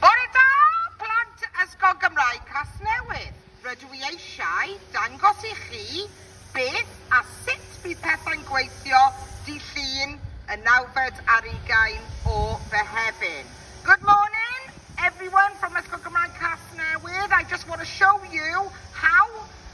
Bore da, plant Ysgol Gymraeg Casnewydd! Rydw i eisiau dangos i chi beth a sut bydd pethau'n gweithio Dydd Llun y nawfed ar ugain o Fehefin. Good morning everyone from Ysgol Gymraeg Casnewydd. I just want to show you how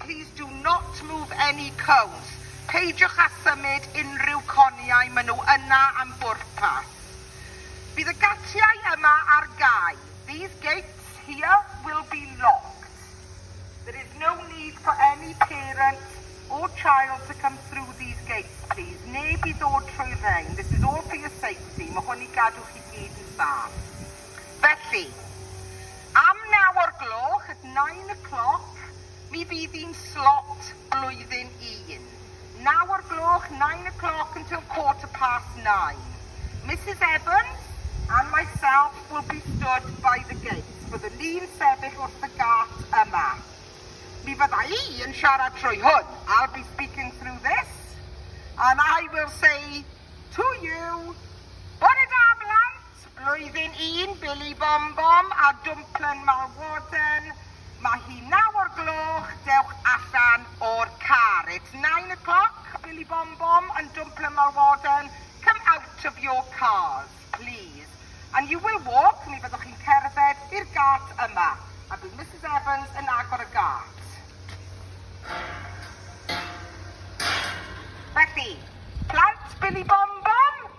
Please do not move any cones, peidiwch â symud unrhyw coniau, maen nhw yna am bwrpas. Bydd y gatiau yma ar gau, these gates here will be locked. There is no need for any parent or child to come through these gates please, neb i ddod trwy'r rhein, this is all for your safety, mae hwn i gadw chi gyd yn saff. Felly, am naw o'r gloch, at nine o'clock, mi fydd hi'n slot blwyddyn un. Naw o'r gloch, nine o'clock until quarter past nine. Misus Evans and myself will be stood by the gate. Byddwn ni'n sefyll wrth y gât yma. Mi fydda i yn siarad trwy hwn. I'll be speaking through this. And I will say to you, Bore da, blant! Blwyddyn un, Billy Bom Bom a Dwmplen Malwarden, Mae hi naw o'r gloch, dewch allan o'r car. It's nine o'clock, Billy Bom Bom and Dwmplen Malwarden, come out of your cars, please. And you will walk, mi fyddwch chi'n cerdded, i'r gât yma. A bydd Misus Evans yn agor y gât. Felly, plant Billy Bom Bom?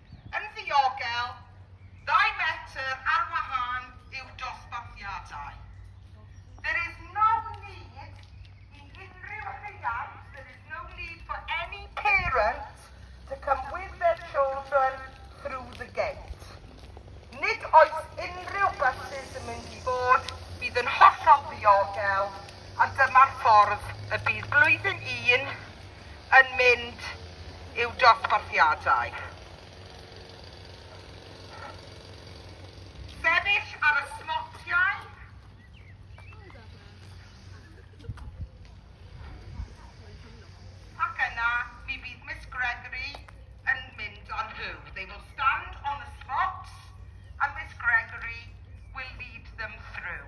Yn ddiogel, ddau metr ar wahân yw dosbarthiadau. There is no need i unrhyw rhiant there is no need for any parent to come with their children through the gate. Nid oes unrhyw bysus yn mynd i fod, bydd yn hollol ddiogel a dyma'r ffordd y bydd Blwyddyn Un yn mynd i'w dosbarthiadau. Sefyll ar y smotiau. Ac yna, mi fydd Miss Gregory yn mynd â nhw. They will stand on the slots and Miss Gregory will lead them through.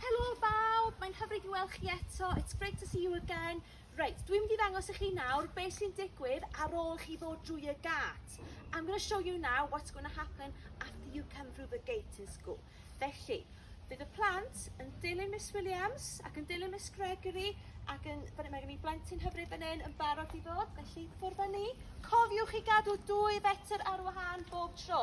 Helo bawb, mae'n hyfryd i weld chi eto, it's great to see you again. Reit, dwi'n mynd i ddangos i chi nawr beth sy'n digwydd ar ôl chi ddod drwy y gât. I'm going to show you now what's going to happen after you come through the gate in school. Felly, bydd y plant yn dilyn Miss Williams ac yn dilyn Miss Gregory ac yn, mae gen i blentyn hyfryd fan hyn yn barod i ddod, felly ffwrdd â ni. Cofiwch i gadw dwy fetr ar wahân bob tro.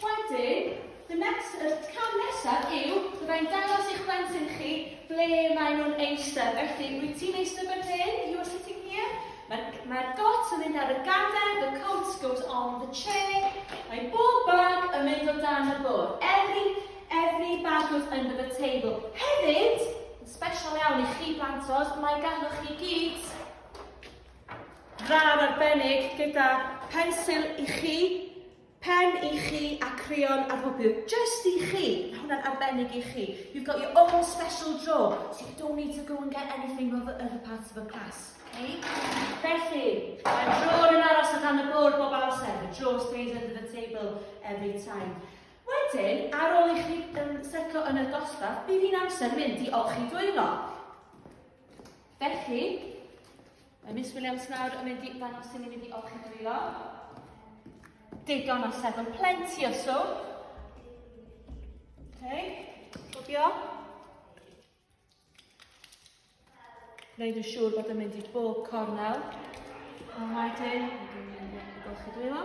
Wedyn, the next, y cam nesaf yw, byddai'n dangos i'ch plentyn chi ble maen nhw'n eistedd. Felly, wyt ti'n eistedd fan hyn? You are sitting here? Mae'r ma got yn mynd ar y gader, the coat goes on the chair. Mae bob bag yn mynd o dan y bwrdd. Every, every bag goes under the table. Hefyd, yn special iawn i chi blantos, mae ganddo chi gyd Rar arbennig gyda phensil i chi, pen i chi a creon a rhwbl. Just i chi. Mae hwnna'n arbennig i chi. You've got your own special drawer, so you don't need to go and get anything from the other parts of the class. Okay? Felly, mae drawer yn aros o dan y bwrdd bob amser. The drawer stays under the table every time. Wedyn, ar ôl i chi um, setlo yn y dosbarth, bydd hi'n amser mynd i olchi dwylo. Felly, mae Miss Williams nawr yn mynd i ddangos sy'n mynd i olchi drio. Digon o sefyll, plenty o swm. Okay, cofio. Gwneud yn siŵr bod yn mynd i bob cornel. A wedyn, golchi dwylo.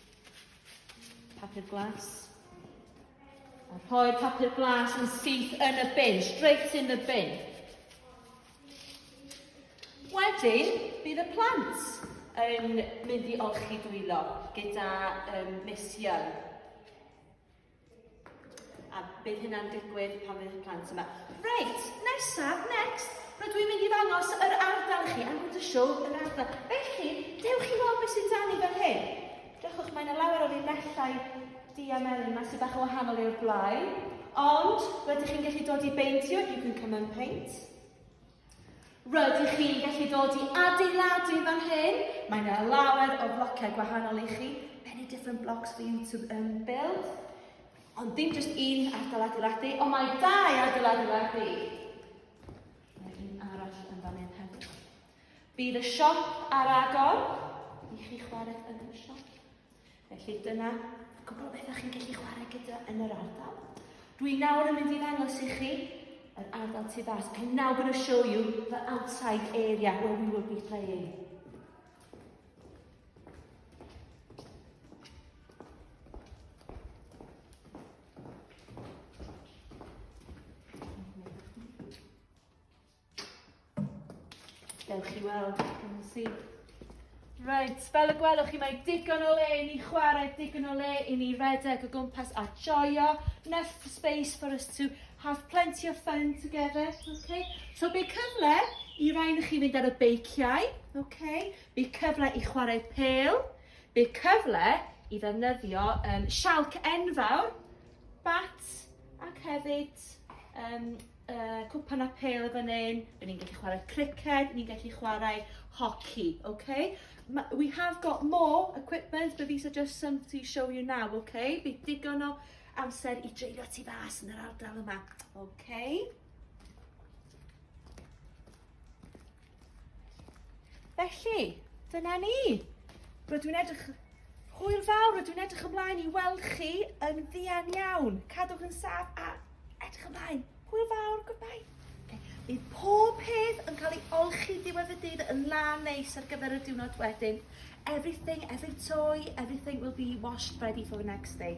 Papur glas. A rhoi'r papur glas yn syth yn y bin, straight in the bin. Wedyn, bydd y plant yn mynd i olchi dwylo gyda um, Miss Young. A bydd hynna'n digwydd pan fydd y plant yma. Reit, nesaf, next, rydw dwi'n mynd i ddangos yr ardal i chi, I'm going to show yr ardal. Felly, dewch i weld beth sy'n dan i fel hyn. Dewchwch, mae yna lawer o linellau dia melyn yma sy'n bach o wahanol i'r blaen. Ond, rydych chi'n gallu dod i beintio, you can come and paint. Rydych chi'n gallu dod i adeiladu fan hyn. Mae yna lawer o blociau gwahanol i chi. Many different blocks for you to um, build. Ond dim just un ardal adeiladu, ond mae dau ardal adeiladu. Mae un arall yn fan hyn hefyd. Bydd y siop ar agor i chi chwarae yn y siop. Felly dyna y cwbl beth chi'n gallu chwarae gyda yn yr ardal. Dwi nawr yn mynd i ddangos i chi yr ardal tu fas. I'm now going to show you the outside area where we will be playing. Dewch chi weld, yn si. Reit, fel y gwelwch chi, mae digon o le i ni chwarae, digon o le i ni redeg o gwmpas a joio. Enough space for us to have plenty of fun together, okay? So be cyfle i rai na chi fynd ar y beiciau, okay? Be cyfle i chwarae pel, be cyfle i ddefnyddio um, sialc enfawr, bat, ac hefyd um, uh, cwpan a pel y fan hyn, rydyn ni'n gallu chwarae criced, ni'n gallu chwarae hoci, okay? We have got more equipment, but these are just some to show you now, okay? Bydd digon o amser i dreulio ti fas yn yr ardal yma, okay? Felly, dyna ni. Rydw i'n edrych... Hwyl fawr, rydw i'n edrych ymlaen i weld chi yn ddian iawn. Cadwch yn saf a edrych ymlaen. Hwyl fawr, goodbye. Okay. Bydd pob peth yn cael ei olchi diwedd y dydd yn lan neis ar gyfer y diwrnod wedyn. Everything, every toy, everything will be washed ready for the next day.